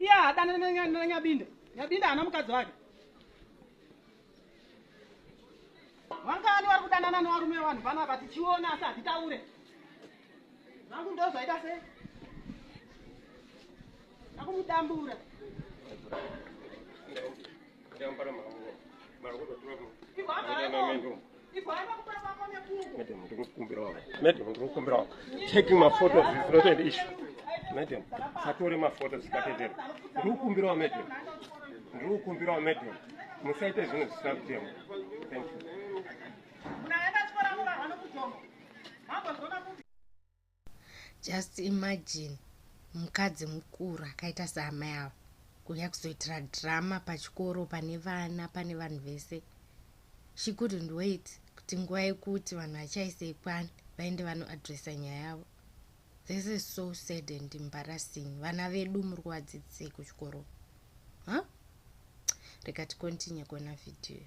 iye haadana nanyabinda nyabinda haana mukadzi wake vangani vari kudanana nevarume vanhu panapa tichiona asi hatitaure vangu ndo zvaita sei akumudambura Madam, ndinokumbirawo. Madam, ndinokumbirawo. Taking my photos is not an issue. Madam, satore my photos zikatendera. Ndinokumbirawo madam. Ndinokumbirawo madam. Musaite zvinhu zvisina kutema. Thank you. just imagine mukadzi mukuru akaita seamai ava kuuya kuzoitira drama pachikoro pane vana pane vanhu vese she couldn't wait kuti nguva yekuti vanhu vachaise ikwani vaende vanoadressa nyaya yavo this is so sad and embarrassing vana vedu muri kuvadzidzisei kuchikoro ha huh? reka ticontinue kuona vhidhiyo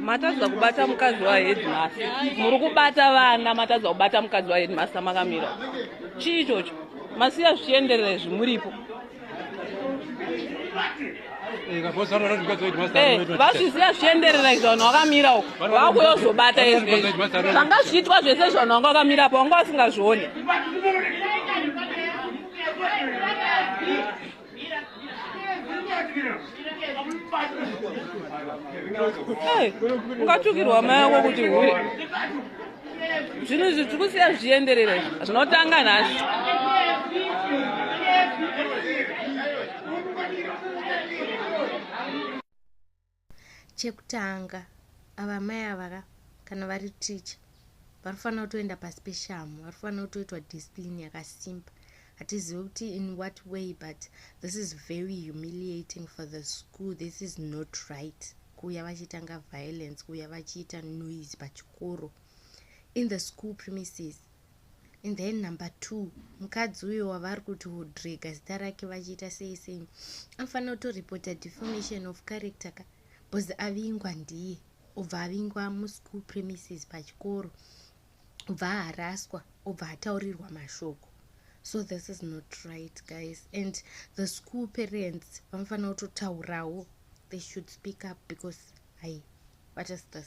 matadza kubata mukadzi waheadmaster muri kubata vana matadza kubata mukadzi waheadmaster makamira chii ichocho masiya zvichienderera izvi muripo vazviziva eh, zvichienderera izvi vanhu vakamira uko vakuyozobata izvi zvanga zvichiitwa zvese zvanhu vanga vakamira apo vanga vasingazvione ungatukirwa mai wako kuti hure zvinhu izvi tiri kusiya zvichienderera zvinotanga nhasi chekutanga ava mai avaka kana vari teacher vanofanira kutoenda pasi peshamu vanofanira kutoitwa discipline yakasimba hatizivi kuti in what way but this is very humiliating for the school this is not right kuuya vachitanga violence kuuya vachiita noise pachikoro in the school premises and then number two mukadzi uyo wavari kuti wodrega zita rake vachiita sei sei anofanira kutoripota deformation of character ka bcause avingwa ndiye obva avingwa muschool premises pachikoro obva aharaswa obva ataurirwa mashoko so this is not right guys and the school parents vanofanira kutotaurawo they should speak up because hai what is this